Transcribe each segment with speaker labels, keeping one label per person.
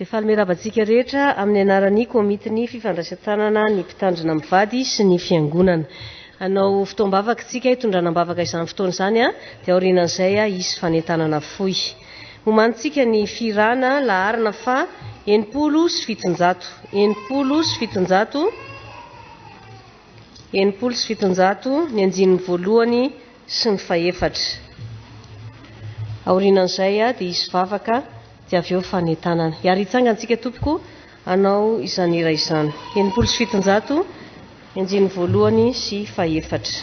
Speaker 1: Dia faly miarahaba antsika rehetra amin'ny anaran'ny Komitin'ny Fifandraisan-tanana ny Mpitandrina Mivady sy ny Fiangonana. Hanao fotoam-bavaka isika hitondrana am-bavaka izany fotoana izany, dia aorianan'izay hisy fanentanana fohy. Homanintsika ny fihirana laharana faha enimpolo sy fitonjato, enimpolo sy fitonjato. enimpolo sy fitonjato ny andininy voalohany sy ny fahefatra. Aorianan'izay dia hisy vavaka dia avy eo fanentanana. Hiary hitsangantsika tompoko hanao izany hira izany. Enimpolo sy fitonjato ny andininy voalohany sy fahefatra.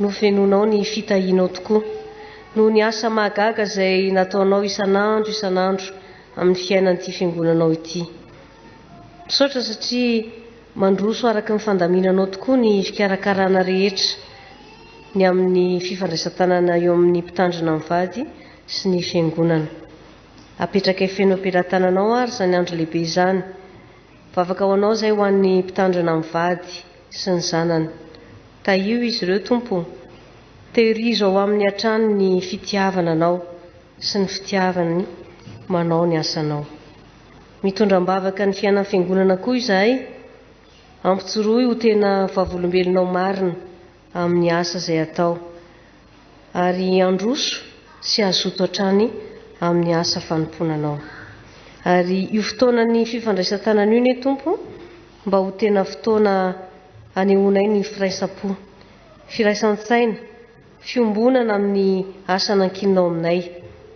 Speaker 1: Novenonao ny fitahianao tokoa noho ny asa mahagaga izay nataonao isan'andro isan'andro amin'ny fiainan'ity Fiangonanao ity. Misaotra satria mandroso araka ny fandaminanao tokoa ny fikarakarana rehetra ny amin'ny fifandraisan-tanana eo amin'ny Mpitandrina mivady sy ny Fiangonana. Apetrakay feno am-pelatananao ary izany andro lehibe izany. Vavaka ho anao izay ho an'ny Mpitandrina mivady. sy ny zanany. Tahio izy ireo, Tompo o. Tehirizo ao aminy hatrany ny fitiavana Anao sy ny fitiavany manao ny asanao. Mitondra am-bavaka ny fiainan'ny Fiangonana koa izahay. Ampijoroy ho tena vavolombelonao marina amin'ny asa izay atao, ary androso sy hazoto hatrany amin'ny asa fanompoana Anao. Ary io fotoanan'ny fifandraisan-tanana io anie, Tompo, mba ho tena fotoana anehoanay ny firaisam-po, firaisan-tsaina, fiombonana amin'ny asa nankininao aminay,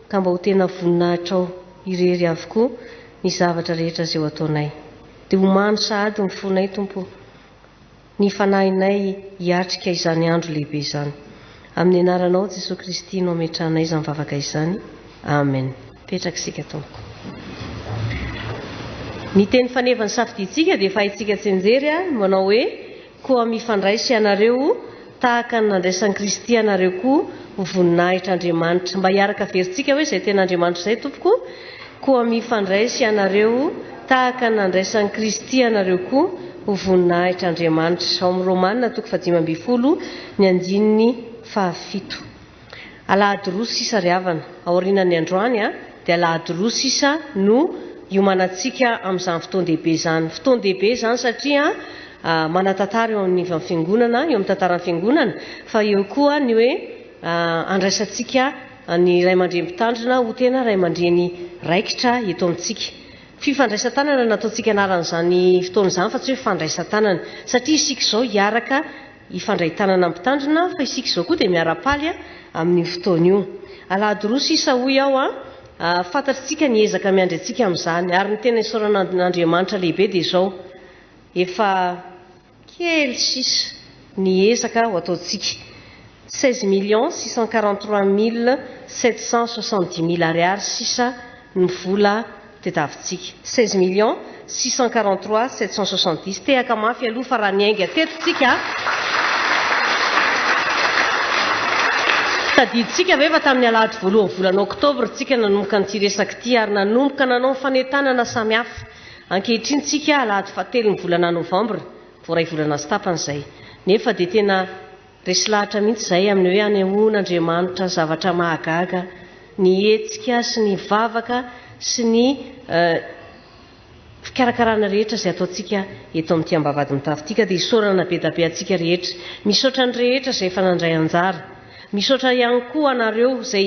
Speaker 1: ka mba ho tena voninahitrao irery avokoa ny zavatra rehetra izay ho ataonay. Dia ho mamy sahady ny fonay, Tompo ô, ny fanahinay hiatrika izany andro lehibe izany. Amin'ny anaranao Jesoa Kristy no ametrahanay izany vavaka izany. Amen. Petraka isika Tompoko. Ny teny faneva ny safidintsika dia efa haintsika tsy enjery a, manao hoe koa mifandraisa ianareo tahaka ny nandraisan'i Kristy anareo koa ho voninahitra Andriamanitra. Mba hiaraka averintsika hoe izay tena Andriamanitra izay Tompoko Koa mifandraisy ianareo tahaka ny nandraisan'i Kristy anareo koa ho voninahitr' Andriamanitra. Ao amin'ny Romana toko fahadimy ambin'ny folo ny andininy fahafito. Alahady roa sisa ry havana, aorianan'ny androany dia alahady roa sisa no iomanantsika amin'izany fotoan-dehibe izany. Fotoan-dehibe izany satria manatantara eo amin'ny ivan'ny fiangonana, eo amin'ny tantaran'ny fiangonana, fa eo koa ny hoe andraisantsika Ny ray aman-dreny mpitandrina ho tena ray aman-dreny raikitra eto amintsika. Fifandraisan-tanana no nataontsika anaran'izany fotoana izany fa tsy hoe fandraisan-tanana. Satria isika izao hiaraka hifandray tanana mpitandrina fa isika izao koa dia miara-paly amin'io fotoana io. Alahady roa sisa hoy aho an! Fantatritsika ny ezaka miandry antsika amin'izany. Ary ny tena isaorana an'Andriamanitra lehibe dia izao, efa. Kely sisa ny ezaka ho ataontsika. Seize millions six cent quarante trois mille sept cent soixante dix mille ariary sisa ny vola tetavintsika. Seize millions six cent quarante trois sept cent soixante dix. Tehaka mafy aloha fa raha niainga teto isika, tadidintsika ve fa tamin'ny alahady voalohan'ny volana oktobra isika nanomboka an'ity resaka ity ary nanomboka nanao ny fanentanana samihafa. Ankehitriny tsika alahady fahatelo ny volana novambra vao iray volana sy tapany izay. Nefa dia tena resy lahatra mihitsy izay amin'ny hoe anehoan' Andriamanitra zavatra mahagaga ny hetsika sy ny vavaka sy ny fikarakarana rehetra izay ataontsika eto amin'ity ambavahady mitafy ity ka dia isaorana bedabe antsika rehetra. Misaotra ny rehetra izay efa nandray anjara. Misaotra ihany koa anareo izay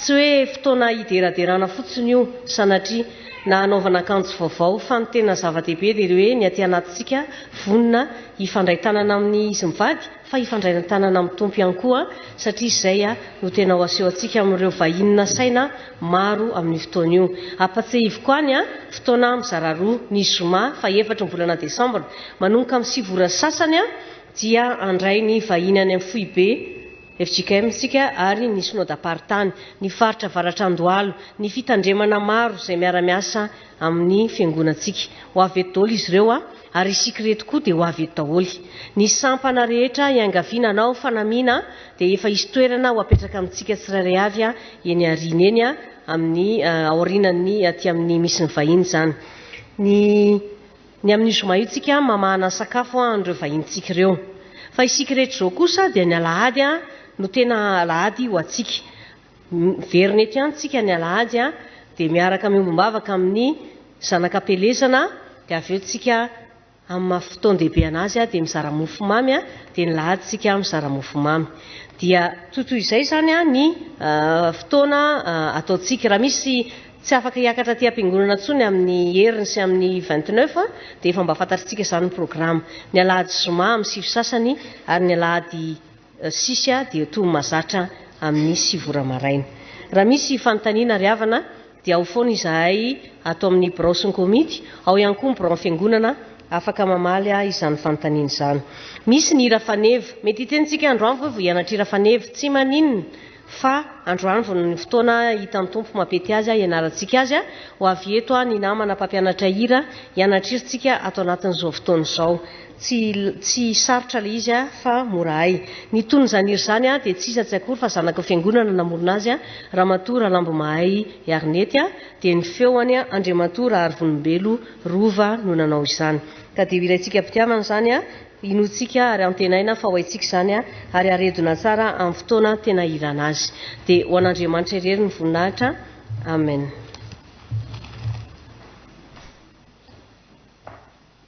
Speaker 1: Tsy hoe fotoana hideraderana fotsiny io, sanatria, na hanaovana akanjo vaovao, fa ny tena zava-dehibe dia ilay hoe ny aty anatintsika vonona hifandray tanana amin'ny izy mivady, fa hifandray tanana amin'ny Tompo ihany koa, satria izay no tena ho aseho antsika amin'ireo vahiny nasaina maro amin'io fotoana io. Ampatsehiviko any, fotoana mizara roa, ny zoma faha efatra ny volana desambra manomboka amin'ny sivy ora sy sasany, dia handray ny vahiny any amin'ny foibe, fjkm isika ary ny Synodam-paritany, ny faritra avaratra Andohalo, ny fitandremana maro izay miara-miasa amin'ny Fiangonantsika. Ho avy eto daholo izy ireo a! ary isika ireto koa dia ho avy eto daholo. Ny sampana rehetra iangaviana hanao fanamiana dia efa hisy toerana ho apetraka amintsika tsirairay avy eny aoriana eny amin'ny aorianan'ny aty amin'ny misy ny vahiny izany. Ny. Ny amin'ny zoma itsika mamahana sakafo an'ireo vahinintsika ireo. Fa isika rehetra izao kosa dia ny alahady no tena alahady ho antsika. Miverina eto ihany tsika ny alahady dia miaraka miombom-bavaka amin'ny zanak'am-pelezana dia avy eo tsika amin'ny maha fotoan-dehibe an'azy dia mizara mofo mamy dia ny lahady tsika mizara mofo mamy. Dia toy toy izay izany ny fotoana ataontsika. Raha misy Tsy afaka hiakatra aty am-piangonana intsony amin'ny heriny sy amin'ny vingt-neuf dia efa mba fantatritsika izany ny programa. Ny alahady zoma amin'ny sivy sasany ary ny alahady sisa dia toa mazatra amin'ny sivy ora maraina. Raha misy fanontaniana ary havana dia ao foana izahay ato amin'ny birao sy ny komity, ao ihany koa ny biraon'ny fiangonana afaka mamaly izany fanontaniana izany. Misy ny hira faneva. Mety hiteny tsika andro avy hoe vao hianatra hira faneva. Tsy maninona. fa androandro no ny fotoana hitan'ny Tompo mampety azy hianarantsika azy, ho avy eto ny namana mpampianatra hira hianatrirntsika ato anatin'izao fotoana izao. Tsy tsy sarotra ilay izy fa mora hay. Ny tonon'izany hira izany dia tsy iza tsy akory fa zanaky ny fiangonana namorona azy, Ramatoa Ralambomahay Arnety, dia ny feony Andriamatoa Raharivonimbelo Rova no nanao izany. Ka dia ho iraintsika am-pitiavana izany. Inoantsika ary antenaina fa ho haintsika izany ary haredona tsara amin'ny fotoana tena ilana azy. Dia ho an'Andriamanitra irery ny voninahitra. Amen.